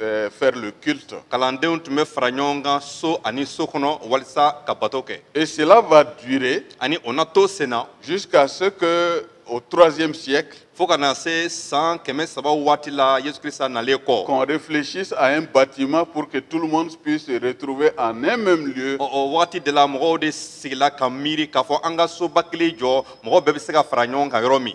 euh, faire le culte. Kalandenw tun bɛ fara ɲɔgɔn kan so ani so kɔnɔ walisa ka bato kɛ. Et cela va durer. Ani o na to sen na. Jusqu'à ce que au troisième siècle. Fo ka na se san kɛmɛ saba wagati la Yesu Krisita nalen kɔ. Qu'on réfléchisse à un bâtiment pour que tout le monde puisse se retrouver en un même lieu. O wagati de la mɔgɔw de sigila ka miiri k'a fɔ an ka soba kelen jɔ mɔgɔw bɛɛ bɛ se ka fara ɲɔgɔn kan yɔrɔ min.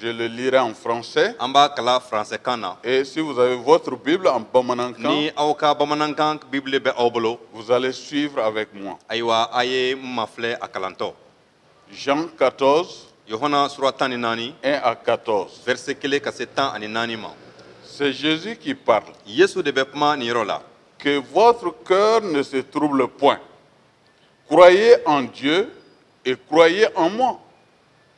Je le lirai en français. An b'a kalan français kan na. Et si vous avez votre Bible en bamanankan. Ni aw ka bamanankan Bible bɛ aw bolo. Vous allez suivre avec moi. Ayiwa a ye n mafilɛ a kalantɔ. Jean 14. Yohana sura tan ni naani. 1 à 14. Verset kelen ka se tan ani naani ma. C'est Jésus qui parle. Yesu de bɛ kuma nin yɔrɔ la. Que votre cœur ne se trouble point. Croyez en Dieu et croyez en moi.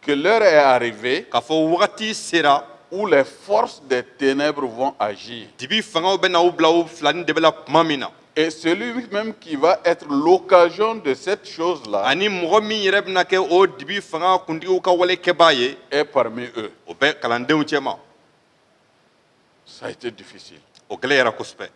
Que l'heure est arrivée. K'a fɔ wagati sera. Où les forces des ténèbres vont agir. Dibi fangaw bɛna u bila u fila ni dɛbɛ la tuma min na. Et celui même qui va être l'occasion de cette chose-là ani mɔgɔ min yɛrɛ bɛna kɛ o dibi fanga kuntigiw ka wale kɛbaa ye est parmi eux. o bɛ kalandenw cɛma Ça a été difficile. o gɛlɛyara kosɛbɛ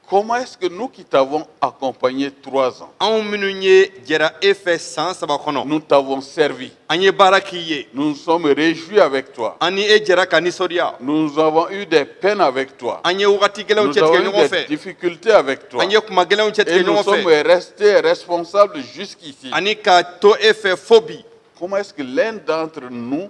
Comment est-ce que nous qui t'avons accompagné trois ans, anw minnu ye jɛra e fɛ san saba kɔnɔ nous t'avons servi, an ye baara k'i ye nous nous sommes réjouis avec toi, an ni e jɛra ka nisɔndiya nous avons eu des peines avec toi, an ye wagati gɛlɛnw cɛtigɛ ɲɔgɔn fɛ nous avons eu des difficultés avec toi, an ye kuma gɛlɛnw cɛtigɛ ɲɔgɔn fɛ et nous sommes restés responsables jusqu'ici. ani ka to e fɛ fo bi Comment est-ce que l'un d'entre nous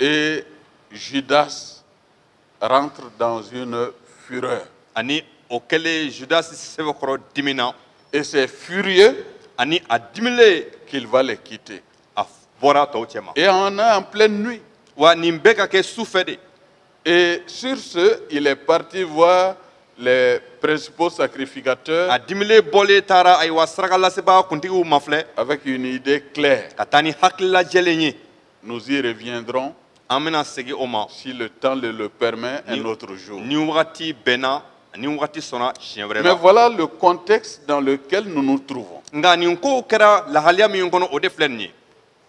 Et Judas rentre dans une fureur. Ani o kɛlen Judas sɛbɛkɔrɔ dimina. Et c'est furieux. Ani a dimilen. Qu'il va les quitter. A bɔra tɔw cɛma. Et on est en pleine nuit. Wa nin bɛ ka kɛ su fɛ de. Et sur ce, il est parti voir les principaux sacrificateurs. A dimilen bɔlen taara ayiwa sarakalasebaa kuntigiw mafilɛ. Avec une idée claire. Ka taa ni hakilila jɛlen ye. Nous y reviendrons. An bɛna segin o ma. Si le temps le le permet un autre jour. Ni wagati bɛnna ni wagati sɔnna siɲɛ wɛrɛ la. Mais voilà le contexte dans lequel nous nous trouvons. Nka nin kow kɛra lahaliya min kɔnɔ o de filɛ nin ye.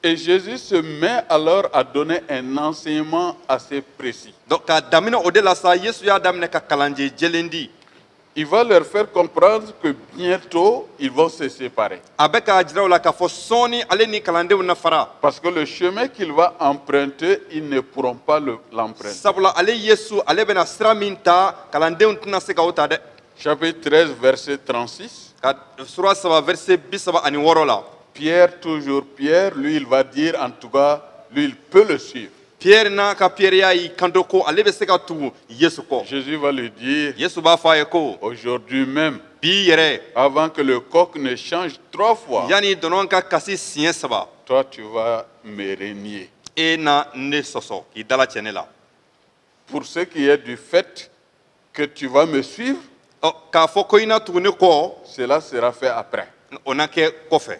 Et Jésus se met alors à donner un enseignement assez précis. Donc, k'a daminɛ o de la sa, Yesu y'a daminɛ ka kalan jɛ- jɛlen di. Il va leur faire comprendre que bientôt ils vont se séparer. A bɛ k'a jira u la k'a fɔ sɔɔni ale ni kalandenw na fara. Parce que le chemin qu'il va emprunter, ils ne pourront pas le- l'emprunter. Sabula ale Yesu ale bɛna sira min ta kalandenw tɛna se ka o ta dɛ. Chapitre 13, verset 36. Ka sura saba verset bi saba ani wɔɔrɔ la. Pierre, toujours Pierre, lui, il va dire, en tout cas, lui, il peut le suivre. Pierre n'a ka pierreya y'i kanto ko ale bɛ se ka tugu Yesu kɔ. Jésus va lui dire. Yesu b'a fɔ a ye ko. Aujourd'hui même. Bi yɛrɛ. Avant que le coq ne chante trois fois. Yanni dɔnɔ ka kasi siɲɛ saba. Toi tu vas me renier. E na ne sɔsɔ k'i dalacɛ ne la. Pour ce qui est du fait que tu vas me suivre. Ɔ k'a fɔ ko i na tugu ne kɔ. Cela sera fait après. O na kɛ kɔfɛ.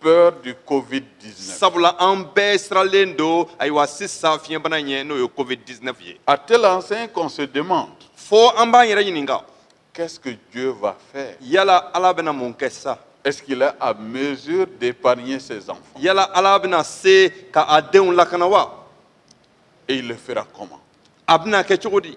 peur du Covid-19. Sabula an bɛɛ siralen don ayiwa sisan fiɲɛbana ɲɛ n'o ye Covid-19 ye. À telle enseigne qu'on se demande. Fo an b'an yɛrɛ ɲininka. Qu'est-ce que Dieu va faire? Yala Ala bɛna mun kɛ sa? Est-ce qu'il est à mesure d'épargner ses enfants? Yala Ala bɛna se ka a denw lakana wa? Et il le fera comment? A bɛna kɛ cogo di?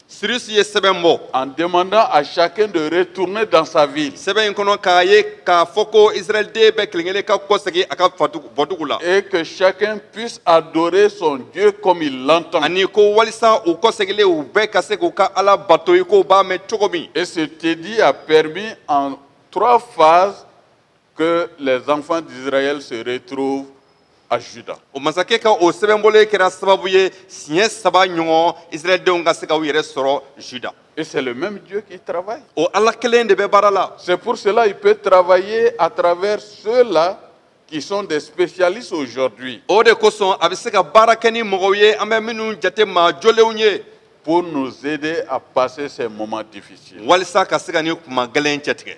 Cyrus ye sɛbɛn bɔ. En demandant à chacun de retourner dans sa ville. Sɛbɛn in kɔnɔ k'a ye k'a fɔ ko Israɛlden bɛɛ kelen-kelen ka kɔsegin a ka bɔdugu la. Et que chacun puisse adorer son Dieu comme il l'entend. Ani ko walisa u kɔseginlen u bɛɛ ka se k'u ka Ala bato i k'u b'a mɛn cogo min. Et cet édit a permis en trois phases que les enfants d'Israël se retrouvent à Juda. O masakɛ ka o sɛbɛn bɔlen kɛra sababu ye siɲɛ saba ɲɔgɔn Israɛldenw ka se ka u yɛrɛ sɔrɔ Juda. Et c'est le même Dieu qui travaille. O Ala kelen de bɛ baara la. C'est pour cela il peut travailler à travers ceux-là qui sont des spécialistes aujourd'hui. O de kosɔn a bɛ se ka baara kɛ ni mɔgɔw ye an bɛ minnu jate maa jɔlenw ye. Pour nous aider à passer ces moments difficiles. Walisa ka se ka nin kuma gɛlɛn cɛtigɛ.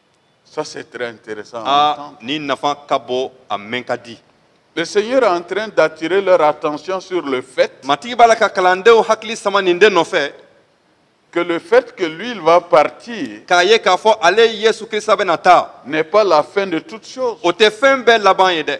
Ça, c'est très intéressant à entendre. Nin nafa ka bon a mɛn ka di. Le Seigneur est en train d'attirer leur attention sur le fait Matigi b'a la ka kalandenw hakili sama nin de nɔfɛ que le fait que lui, il va partir k'a ye k'a fɔ ale yesu krista bɛna taa n'est pas la fin de toute chose. o tɛ fɛn bɛɛ laban ye dɛ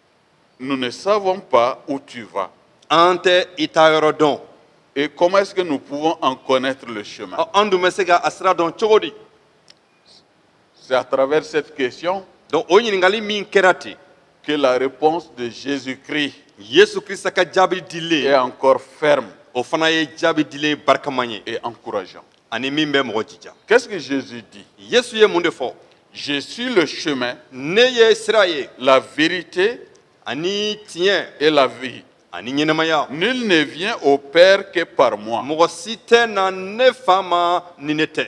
Nous ne savons pas où tu vas. An tɛ i taa yɔrɔ dɔn. Et comment est-ce que nous pouvons en connaître le chemin? Ɔ, An dun bɛ se ka a sira dɔn cogo di? C'est à travers cette question Donc o ɲininkali min kɛra ten, que la réponse de Jésus-Christ Yesu Krista ka jaabi dilen, est encore ferme o fana ye jaabi dilen barikama ye. et encourageante. ani min bɛ mɔgɔ jija qu'est-ce que jésus dit yesu ye mun de fɔ je suis le chemin ne ye sira ye la vérité ani tiɲɛ et la vie ani ɲɛnɛmaya nul ne vient au père que par moi mɔgɔ si tɛ na ne fa ma ni ne tɛ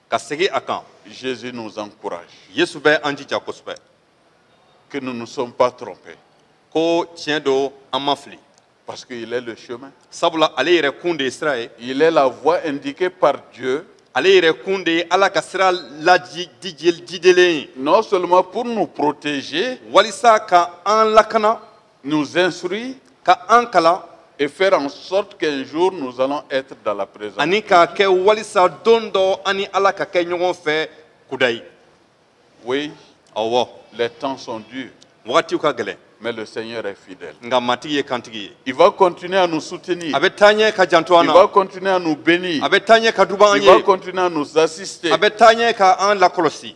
ka segin a kan jésus nous encourage yesu bɛ an jija kosɛbɛ que nous ne sommes pas trompés ko tiɲɛ don an ma fili parce qu'il est le chemin sabula ale yɛrɛ kun de ye sira ye il est la voie indiquée par dieu ale yɛrɛ kun de ye ala ka sira lajidelen ye non seulement pour nous protéger walisa ka an lakana nous instruit ka an kalan et faire en sorte qu'un jour nous allons être dans la présence. Ani k'a kɛ walisa don dɔ an ni Ala ka kɛ ɲɔgɔn fɛ kudayi. Oui. Awɔ. Les temps sont durs. Wagatiw ka gɛlɛn. Mais le Seigneur est fidèle. Nga matigi ye kantigi ye. Il va continuer à nous soutenir. A bɛ taa ɲɛ ka janto an na. Il va continuer à nous bénir. A bɛ taa ɲɛ ka duba an ye. Il va continuer à nous assister. A bɛ taa ɲɛ ka an lakɔlɔsi.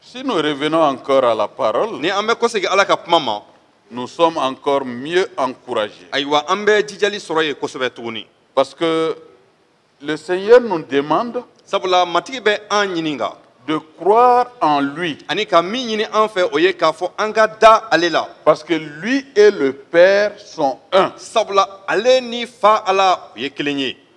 Si nous revenons encore à la parole, ni an bɛ kɔsegin Ala ka kuma ma, nous sommes encore mieux encouragés. ayiwa an bɛ jijali sɔrɔ yen kosɛbɛ tuguni. Parce que le Seigneur nous demande sabula Matigi bɛ an ɲininka de croire en lui ani ka min ɲini an fɛ o ye k'a fɔ an ka da ale la parce que lui et le Père sont un. sabula ale ni Fa Ala u ye kelen ye.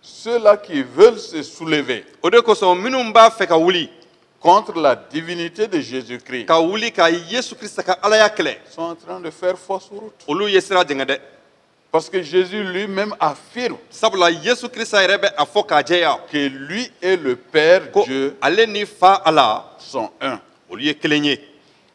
ceux-là qui veulent se soulever o de kosɔn minnu b'a fɛ ka wuli contre la divinité de Jésus-Christ ka wuli ka yesu krista ka alaya kɛlɛ sont en train de faire fausse route. olu ye sira jɛngɛ dɛ Parce que Jésus lui-même affirme sabula yesu krista yɛrɛ bɛ a fɔ k'a jɛya que lui et le Père ko Dieu ale ni fa ala sont un. olu ye kelen ye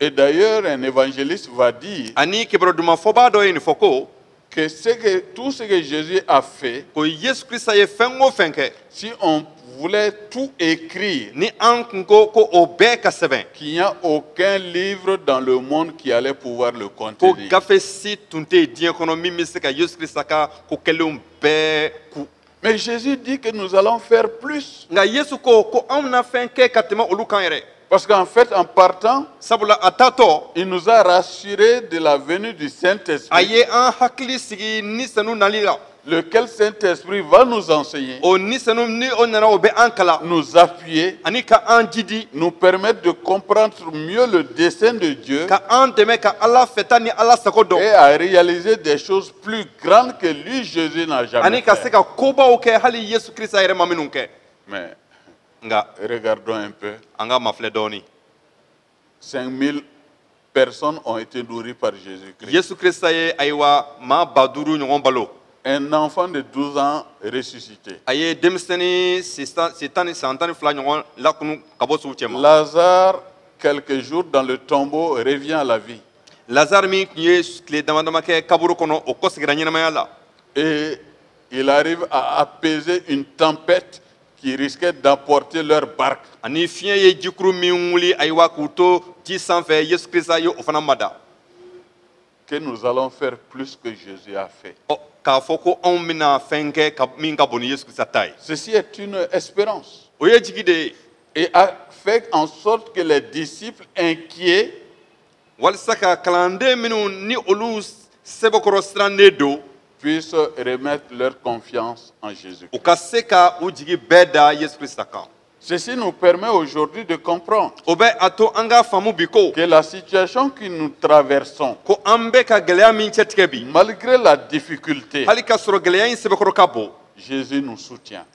Et d'ailleurs, un évangéliste va dire ani kibarodumafɔbaa dɔ ye nin fɔ ko que, ce que tout ce que Jésus a fait, ko yesu krista ye fɛn o fɛn kɛ si on voulait tout écrire, ni an kun ko ko o bɛɛ ka sɛbɛn qu'il n'y a aucun livre dans le monde qui allait pouvoir le ko contenir. gafe si tun tɛ yen diɲɛ kɔnɔ min bɛ se ka yesu krista ka ko kɛlenw bɛɛ ku Mais Jésus dit que nous allons faire plus. Nga Yesu ko ko anw na fɛn kɛ ka tɛmɛ olu kan yɛrɛ. Parce qu'en fait, en partant, sabula a taatɔ, il nous a rassurés de la venue du Saint-Esprit. A ye an hakili sigi ni senu nali la. Lequel Saint-Esprit va nous enseigner, o ni senu ni o nana o bɛ an kalan, nous appuyer, ani ka an jidi, nous permettre de comprendre mieux le dessein de Dieu ka an dɛmɛ ka Ala fɛta ni Ala sago dɔn. et à réaliser des choses plus grandes que lui Jésus n'a jamais ani ka se ka kobaw kɛ hali yesu krista yɛrɛ ma minnu kɛ mais nga regardons un peu an k'a mafilɛ dɔɔni 5000 personnes ont été nourries par Jésus Christ yesu krista ye ayiwa maa ba duuru ɲɔgɔn balo un enfant de 12 ans ressuscité a ye denmisɛnnin san tan ni fila ɲɔgɔn lakunu ka bɔ suw cɛma lazare quelques jours dans le tombeau revient à la vie lazare min tun ye tile dama dama kɛ kaburu kɔnɔ o kɔsegira ɲɛnamaya la et il arrive à apaiser une tempête qui risquait d'emporter leur barque ani fiɲɛ ye jikuru min wuli ayiwa k'u to ji sanfɛ yesu krista ye o fana mada que nous allons faire plus que Jésus a fait. Oh, k'a fɔ ko anw bɛna fɛn kɛ min ka bon ni yesu krista ta ye. Ceci est une espérance. o ye jigi de ye. Et a fait en sorte que les disciples inquiets walisa ka kalanden minnu ni olu sɛbɛkɔrɔ sirannen don puissent remettre leur confiance en Jésus. u ka se ka u jigi bɛɛ da yesu krista kan Ceci nous permet aujourd'hui de comprendre o bɛ a to an k'a faamu bi ko que la situation que nous traversons, ko an bɛ ka gɛlɛya min cɛtigɛ bi malgré la difficulté, hali k'a sɔrɔ gɛlɛya in sɛbɛkɔrɔ ka bon Jésus nous soutient.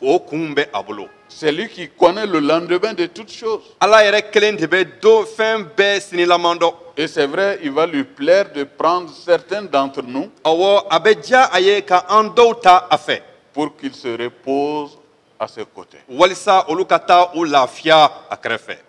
k'o kun bɛ a bolo. c'est lui qui connaît le lendemain de toutes choses. ala yɛrɛ kelen de bɛ don fɛn bɛɛ sinilaman dɔn. Et c'est vrai, il va lui plaire de prendre certains d'entre nous. Awɔ, a bɛ diya a ye ka an dɔw ta a fɛ. Pour qu'ils se reposent à ses côtés. Walisa olu ka taa u lafiya a kɛrɛfɛ.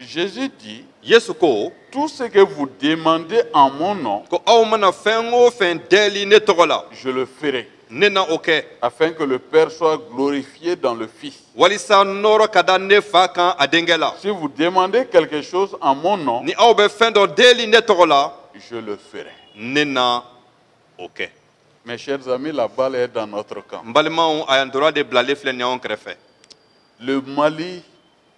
Jésus dit, Yesu ko, tout ce que vous demandez en mon nom, ko aw mana fɛn o fɛn deli ne tɔgɔ la, je le ferai. Ne na o kɛ. Afin que le Père soit glorifié dans le Fils. Walisa nɔrɔ ka da ne fa kan a denkɛ la. Si vous demandez quelque chose en mon nom, ni aw bɛ fɛn dɔ deli ne tɔgɔ la, je le ferai. Ne na o kɛ. Mes chers amis, la balle est dans notre camp. N balimaw, ayiwa ntola de bilalen filɛ nin y'anw kɛrɛfɛ. Le Mali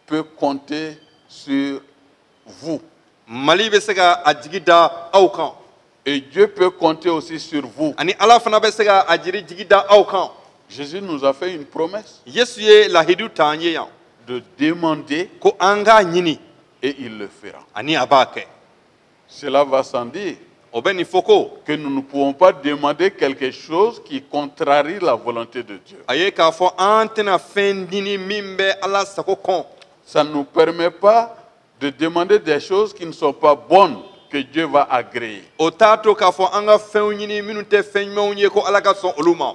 peut compter sur vous. Mali bɛ se ka a jigi da aw kan. Et Dieu peut compter aussi sur vous. Ani Ala fana bɛ se ka a jiri jigi da aw kan. Jésus nous a fait une promesse. Yesu ye lahidu ta an ye yan. De demander. Ko an k'a ɲini. Et il le fera. Ani a b'a kɛ. Cela va sans dire. O bɛ nin fɔ ko. Que nous ne pouvons pas demander quelque chose qui contrarie la volonté de Dieu. A ye k'a fɔ an tɛna fɛn ɲini min bɛ Ala sago kɔn. Ça ne nous permet pas de demander des choses qui ne sont pas bonnes que Dieu va agréer. O t'a to k'a fɔ an ka fɛnw ɲini minnu tɛ fɛn ɲumanw ye ko Ala ka sɔn olu ma.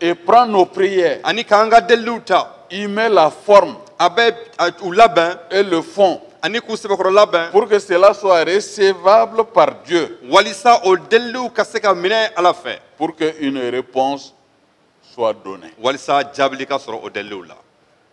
et prend nos prières ani k'an ka deliliw ta il met la forme a bɛ u labɛn et le fond ani k'u sɛbɛkɔrɔ labɛn pour que cela soit recevable par Dieu walisa o deliliw ka se ka minɛ Ala fɛ pour que une réponse soit donnée walisa jaabili ka sɔrɔ o deliliw la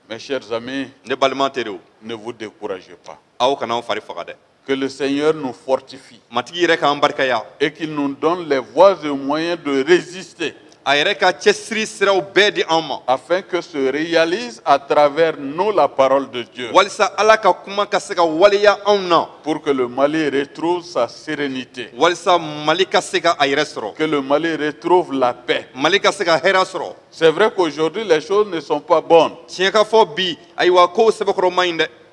mes chers amis ne balima teriw ne vous découragez pas aw kana aw fari faga dɛ que le Seigneur nous fortifie matigi yɛrɛ k'an barikaya et qu'il nous donne les voies et moyens de résister a yɛrɛ ka cɛsiri siraw bɛɛ di an ma afin que se réalise à travers nous la parole de Dieu walisa ala ka kuma ka se ka waleya anw na pour que le Mali retrouve sa sérénité walisa mali ka se ka a yɛrɛ sɔrɔ que le Mali retrouve la paix mali ka se ka hɛrɛ sɔrɔ c'est vrai qu'aujourd'hui les choses ne sont pas bonnes tiɲɛ ka fɔ bi ayiwa kow sɛbɛkɔrɔ man ɲi dɛ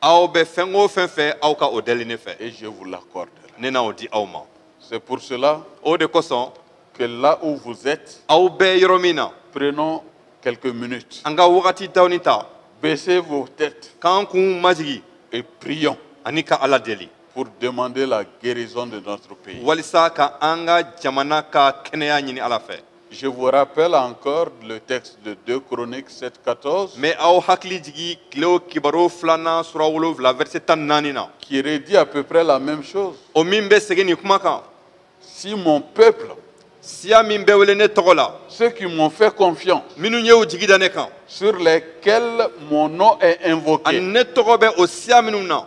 aw bɛ fɛn o fɛn fɛ aw ka o deli ne fɛ. et je vous l'accorderai. ne na o di aw ma. c'est pour cela. o de kosɔn. que là où vous êtes. aw bɛ yɔrɔ min na. prenons quelques minutes. an ka wagati dɔɔnin ta. baissez vos têtes. k'an kun majigin. et prions. ani ka ala deli. pour demander la guérison de notre pays. walisa ka an ka jamana ka kɛnɛya ɲini ala fɛ. Je vous rappelle encore le texte de 2 Chroniques 7, 14. N bɛ aw hakili jigi Tilew Kibaru filanan sura wolonwula verset tan naani na. Qui redit à peu près la même chose. O min bɛ segin nin kuma kan. Si mon peuple. Siya min bɛ wele ne tɔgɔ la. Ceux qui m'ont fait confiance. Minnu ye u jigi da ne kan. Sur lesquels mon nom est invoqué. Ani ne tɔgɔ bɛ o siya minnu na.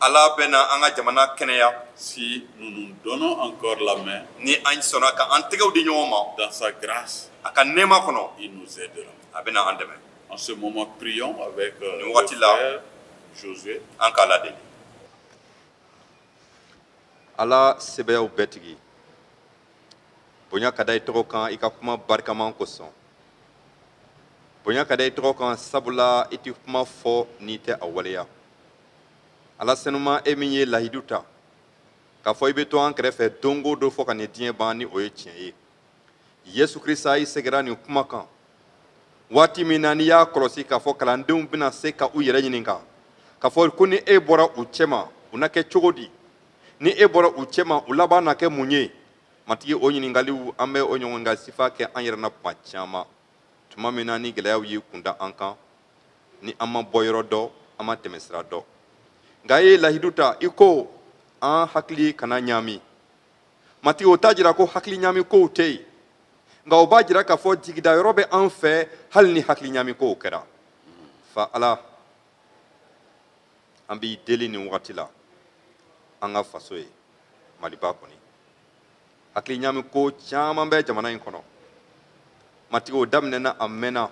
Ala bɛna an ka jamana kɛnɛya si nous nous donnons encore la main ni an sɔnna ka an tɛgɛw di ɲɔgɔn ma dans sa grâce a ka nɛɛma kɔnɔ il nous aidera a bɛna an dɛmɛ en ce moment prions avec nin waati la Josué an ka ala deli ala sebaayaw bɛɛ tigi bonya ka da i tɔgɔ kan i ka kuma barikaman kosɔn bonya ka da i tɔgɔ kan sabula i tɛ kuma fɔ n'i tɛ a waleya ala senuma e min ye lahidu ta k'a fɔ i bɛ to an kɛrɛfɛ don o don fo ka nin diɲɛ ban ni o ye tiɲɛ ye yesu krista i segira nin kuma kan waati min na n'i y'a kɔlɔsi k'a fɔ kalandenw bɛna se ka u yɛrɛ ɲininka k'a fɔ ko ni e bɔra u cɛma u na kɛ cogo di ni e bɔra u cɛma u laban na kɛ mun ye matigi o ɲininkaliw an bɛ o ɲɔgɔn ɲininkali sifa kɛ an yɛrɛ na tuma caman tuma min na ni gɛlɛyaw y'i kunda an kan ni an ma bɔyɔrɔ dɔn an ma tɛmɛsira dɔn nka i ye lahidu ta i ko an hakili kana ɲaami matigi o t'a jira ko hakili ɲaami kow tɛ yen nka o b'a jira k'a fɔ jigidayɔrɔ bɛ an fɛ hali ni hakili ɲaami kow kɛra fa ala an b'i deli nin wagati la an ka faso ye maliba kɔni hakili ɲaami ko caman bɛ jamana in kɔnɔ matigi o daminɛna a mɛnna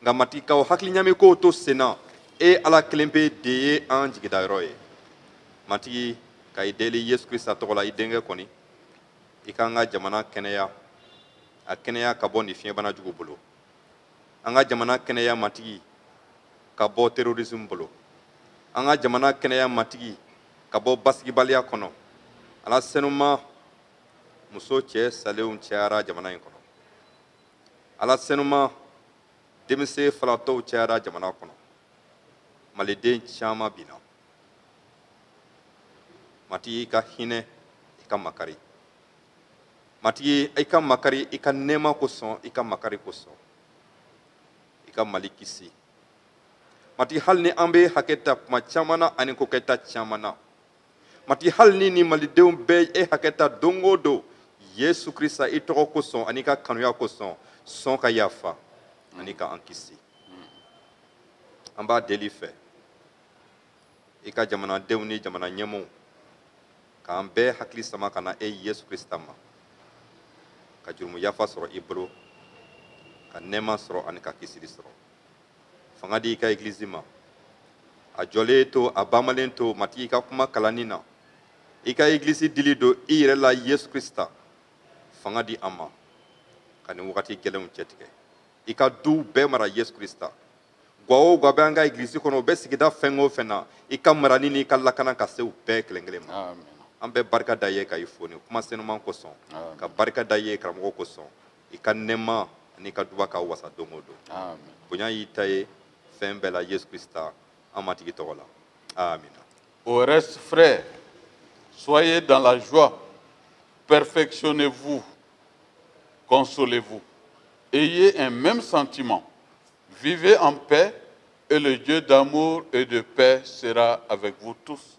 nka matigi ka o hakili ɲaami kow to senna e ala kelen pe de ye an jigidayɔrɔ ye matigi ka i deli yesu krista tɔgɔ la i denkɛ kɔni i k'an ka jamana kɛnɛya a kɛnɛya ka bɔ nin fiɲɛbana jugu bolo an ka jamana kɛnɛya matigi ka bɔ terorisme bolo an ka jamana kɛnɛya matigi ka bɔ basigibaliya kɔnɔ ala senuma muso cɛ salenw cayara jamana in kɔnɔ ala senuma denmisɛn falatɔw cayara jamana kɔnɔ maliden caman binna matigi i ka hinɛ i ka makari matigi i ka makari i ka nɛɛma kosɔn i ka makari kosɔn i ka mali kisi matigi hali ni an bɛ hakɛ ta kuma caman na ani kokɛta caman na matigi hali ni ni malidenw bɛ e hakɛ ta don o don yesu krista i tɔgɔ kosɔn ani i ka kanuya kosɔn sɔn ka yafa ani ka an kisi an b'a deli fɛ i ka jamanadenw ni jamana ɲɛmɔw k'an bɛɛ hakili sama ka na e yesu krista ma ka jurumu yafa sɔrɔ i bolo ka nɛɛma sɔrɔ ani ka kisili sɔrɔ fanga di i ka egilizi ma a jɔlen to a banbalen to matigi i ka kuma kalanni na i ka egilizi dili don i yɛrɛ la yesu krista fanga di an ma ka nin wagati gɛlɛnw cɛtigɛ i ka duw bɛɛ mara yesu krista gwa o gwa bɛ an ka egilizi kɔnɔ u bɛ sigida fɛn o fɛn na i ka marani n'i ka lakana ka se u bɛɛ kelen kelen ma an bɛ barika da i ye ka i fo nin kuma senuman kosɔn ka barika da i ye karamɔgɔ kosɔn i ka nɛɛma ani i ka duba ka wasa don o don bonya y'i ta ye fɛn bɛɛ la yesu krista an matigi tɔgɔ la amina au reste frères soyez dans la joie perfectionnez-vous consolez-vous ayez un même sentiment vivez en paix et le Dieu d'amour et de paix sera avec vous tous